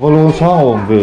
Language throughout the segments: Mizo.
Va lo sang awm ve.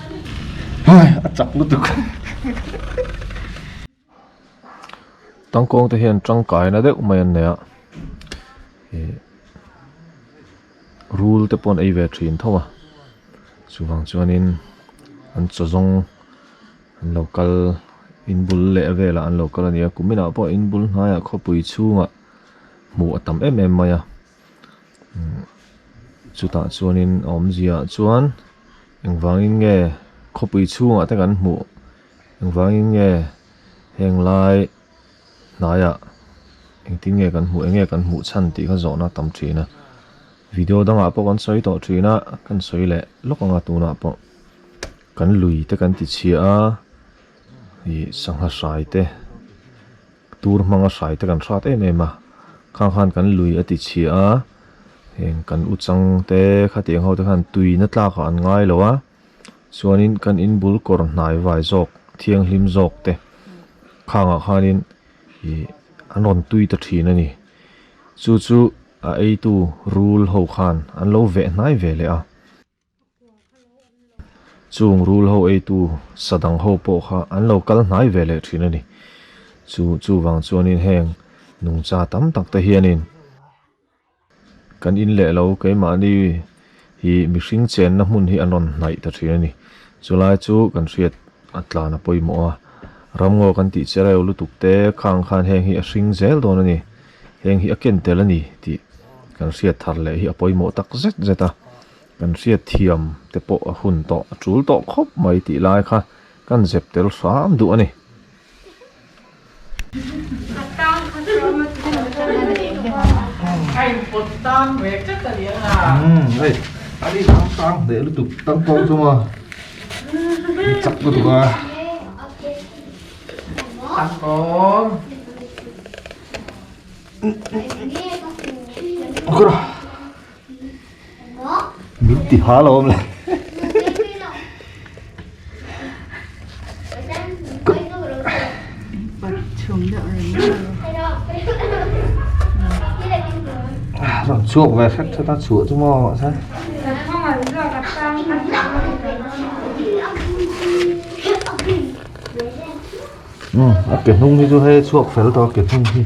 a chak lutuk tangkawng te hian tangkai na deuh mai an nei a ih rul te pawh an ei ve thin tho a chuvang chuanin an chaw zawng an lo kal in bul leh velah an lo kal a ni a kuminah pawh in bul hnaiah khawpui chhungah hmuh a tam em em mai a. Chutah chuanin a awmzia chuan engvangin nge khawpui chhungah te kan hmuh? Engvangin nge henglai hnaiah engtin nge kan hmuh, eng nge kan hmuh chhan tih kha zawhna a tam thin a. Video dangah pawh kan sawi tawh thin a, kan sawi leh lawk anga tunah pawh kan lui te kan tichhia a, ih sangha hrai te. Tur hmanga hrai te kan hrat em em a, khang khan kan lui a ti chhia a, heng kan u chang te khatiang ho te khan tuina tlakah an ngai lo a, chuanin kan in bul kawr hnai vai zawk, thianghlim zawk te khangah khanin ih an rawn tui ta thin a ni. Chu chu a eitu rul ho khan an lo veh hnai ve leh a. Chung rul ho eitu sadang ho pawh kha an lo kal hnai ve leh thin a ni. Chu chuvang chuanin heng nungcha tam tak te hianin kan in leh lo keimahni hi mihring chenna hmun hi an rawn hnaih ta thin a ni. Chulai chu kan hriat a tlan a pawimawh a, ramngaw kan tih che reu lutuk te khang khan heng hi a hring zel dawn a ni. Heng hi a ken tel a ni tih kan hriat thar leh hi a pawimawh tak zet zet a. Kan hriatthiam te pawh a hun tawh a tul tawh khawp mai tih lai kha kan zep tel hram duh a ni. min ti ha lo awmlo rawn chhuak ve hret hret a chhuah chu maw mahse a ke hnung hi chu hei a chhuak fel tawh a ke hnung hi.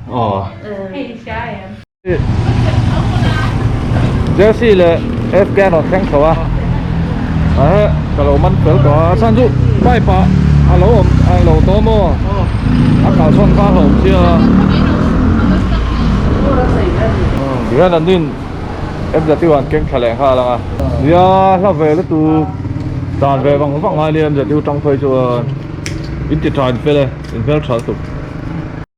Jersey le Afghan an thleng tho a ahh ka lo man fel tawh a chhan chu pipe ah a lo awm a lo daw maw a kalsawn kha a hawm chiang a Rian an in MZU an keng thla leh nghal ang a nia hla ve lutu tlan ve vang vang a nia MZU tangphai chuan in ti tha in fel e in hmel tha lutuk.